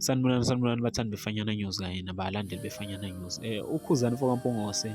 sanibonani sanibonani bathandi befanyana news kanye nabalandeli befanyana news um eh, ukhuzani mfokampongose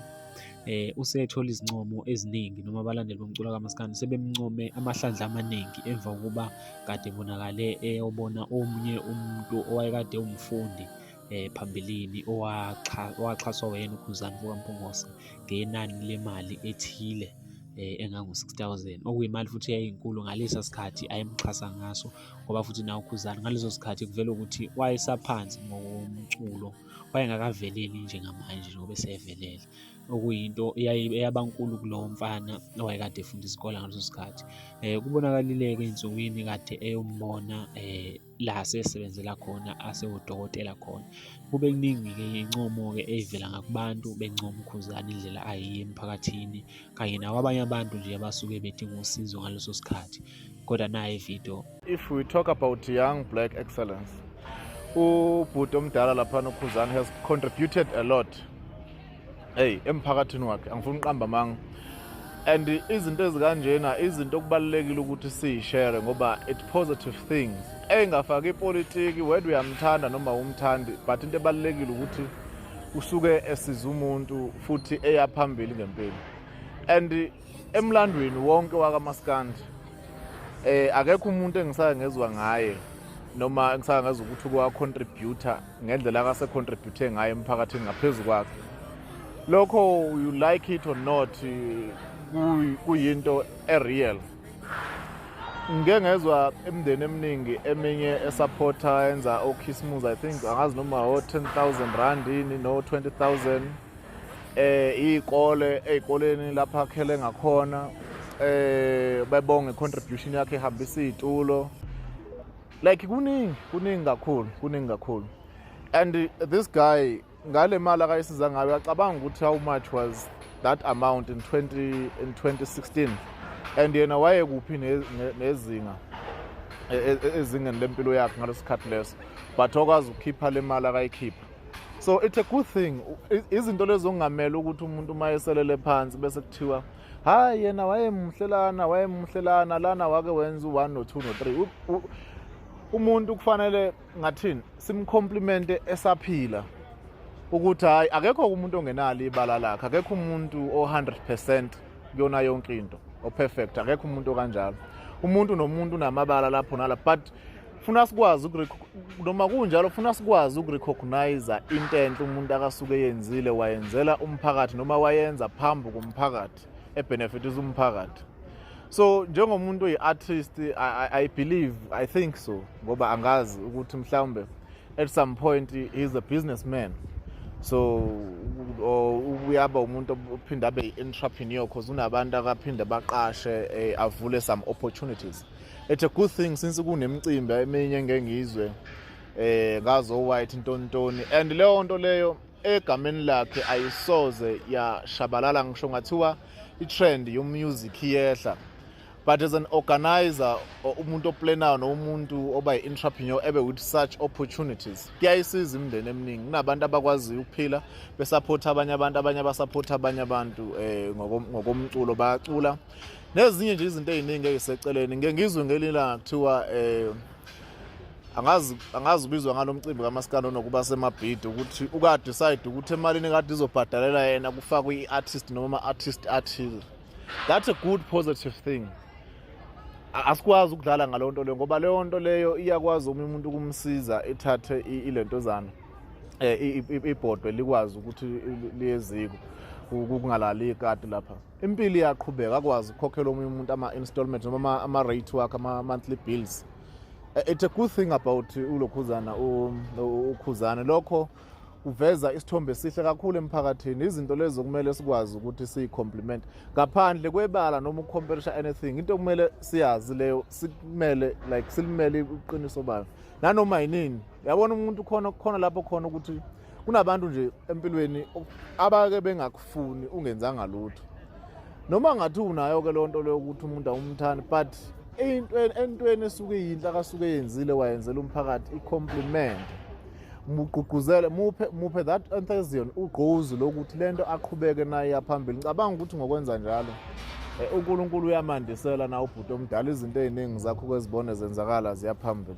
eh usethola izincomo eziningi noma abalandeli bomculo kamaskandi sebemncome amahlandla amaningi emva kokuba kade bonakale eyobona omunye umuntu owayekade umfundi eh phambilini owaxhaswa wena uKhuzani kukaMpungose ngenani lemali ethile eh, engangu-6000 okuyimali futhi yayinkulu ngalesa sikhathi ayemxhasa ngaso ngoba futhi nawo ukhuzani ngaleso sikhathi kuvela ukuthi wayesaphansi ngokomculo wayengakaveleli njengamanje njengoba esevelele okuyinto eyabankulu kulowo mfana owayekade efunda isikole ngaleso sikhathi um kubonakalile-ke ey'nsukwini kade eyombona um la asesebenzela khona asewudokotela khona. Kube kuningi-ke incomo-ke eyivela ngakubantu bencoma uKhuzani indlela ayiye emphakathini kanye nakwabanye abantu nje abasuke bedinga usizo ngaleso sikhathi. Kodwa naye video. If we talk about young black excellence, ubhuti omdala laphana uKhuzani has contributed a lot hey emphakathini wakhe angifuni uqamba amanga and izinto ezikanjena izinto okubalulekile ukuthi siyishare ngoba it positive things engafaki ipolitiki whether uyamthanda noma umthandi but into ebalulekile ukuthi usuke esiza umuntu futhi eya phambili ngempilo and Emlandweni wonke wakamaskandi eh akekho umuntu engisake ngezwa ngaye noma engisake ngezwa ukuthi kwa contributor ngendlela akase contribute ngayo emphakathini ngaphezulu kwakhe lokho you like it or not kuyinto ereal ngike ngezwa imndeni eminingi eminye esupporta yenza okhisimuzi i think angazi noma o 10000 rand yini no 20000 eh izikole ezikoleni lapha akhele ngakhona eh bebonge contribution yakhe ehambisa izitulo like kuningi kuningi kakhulu kuningi kakhulu and this guy ngale mali akayisiza ngayo uyacabanga ukuthi how much was that amount in 20 in 2016 and yena wayekuphi nezinga e, e, e, ezingeni lempilo yakhe ngalesikhathi leso but okwazi ukukhipha le mali akayikhipha so it's a good thing izinto lezo ongamele ukuthi umuntu uma eselele phansi bese kuthiwa hayi yena wayemuhle lana wayemuhle lana lana wake wenza u-one no-two no-three umuntu kufanele ngathini simcomplimente esaphila ukuthi hhayi akekho umuntu ongenalo ibala lakhe akekho umuntu o-100 percent kuyona yonke into o-perfect akekho umuntu okanjalo umuntu nomuntu unamabala lapho nala but funa sikwazi noma kunjalo funa sikwazi ukurecognize into enhle umuntu akasuke eyenzile wayenzela umphakathi noma wayenza phambi komphakathi ebenefitisa umphakathi so njengomuntu oyi-artist I, I, i believe i think so ngoba angazi ukuthi mhlawumbe at some point he's a businessman so uyaba umuntu ophinde abe i-entrepreneur cause unabantu akaphinde baqashe eh, avule some opportunities It's a good thing since kunemcimbi eminye engengizwe eh ngazo white ntontoni and leyo nto leyo egameni lakhe ayisoze yashabalala ngisho ngathiwa i-trend yomusic iyehla but as an organizer or umuntu oplanayo nomuntu oba yi-entrepreneur ebe with such opportunities kuyayisiza imindeni eminingi kunabantu abakwaziyo ukuphila besaphotha abanye abantu abanye abasaphotha abanye abantu um ngokomculo bayacula nezinye nje izinto eziningi eziseceleni ngeke ngizwe ngelinye ilanga kuthiwa eh angazi angazi ubizwa ngalomcimbi kamaskandi onokuba semabhidi ukuthi uka decide ukuthi emalini kade izobhadalela yena kufakwe i-artist noma ama-artist athile that's a good positive thing asikwazi ukudlala ngaleyo nto leyo ngoba leyo nto leyo iyakwazi omunye umuntu ukumsiza ithathe ilentozana eh ibhodwe likwazi ukuthi liyeziko kungalali ikati lapha impilo iyaqhubeka akwazi ukukhokhela omunye umuntu ama-installment noma ama-rate wakhe ama-monthly bills eh, it's a good thing about ulokhuzana ukhuzane lokho kuveza isithombe esihle kakhulu emphakathini izinto lezo kumele sikwazi ukuthi siyi-compliment ngaphandle kwebala noma ukucomperisha anything into kumele siyazi leyo sikumele like silimele uqiniso bayo nanoma yinini yabona umuntu khona khona lapho khona ukuthi kunabantu nje empilweni abake bengakufuni ungenzanga lutho noma ngathi unayo ke lonto leyo ukuthi umuntu awumthani but entweni entweni esuke yinhle akasuke yenzile wayenzela umphakathi i-compliment mugqugquzele muphe muphe that enthusiasm ugqozi lokuthi lento aqhubeke nayo yaphambili ngicabanga ukuthi ngokwenza njalo eh, uNkulunkulu uyamandisela na ubhuti omdala izinto eziningi zakho kwezibone zenzakala ziyaphambili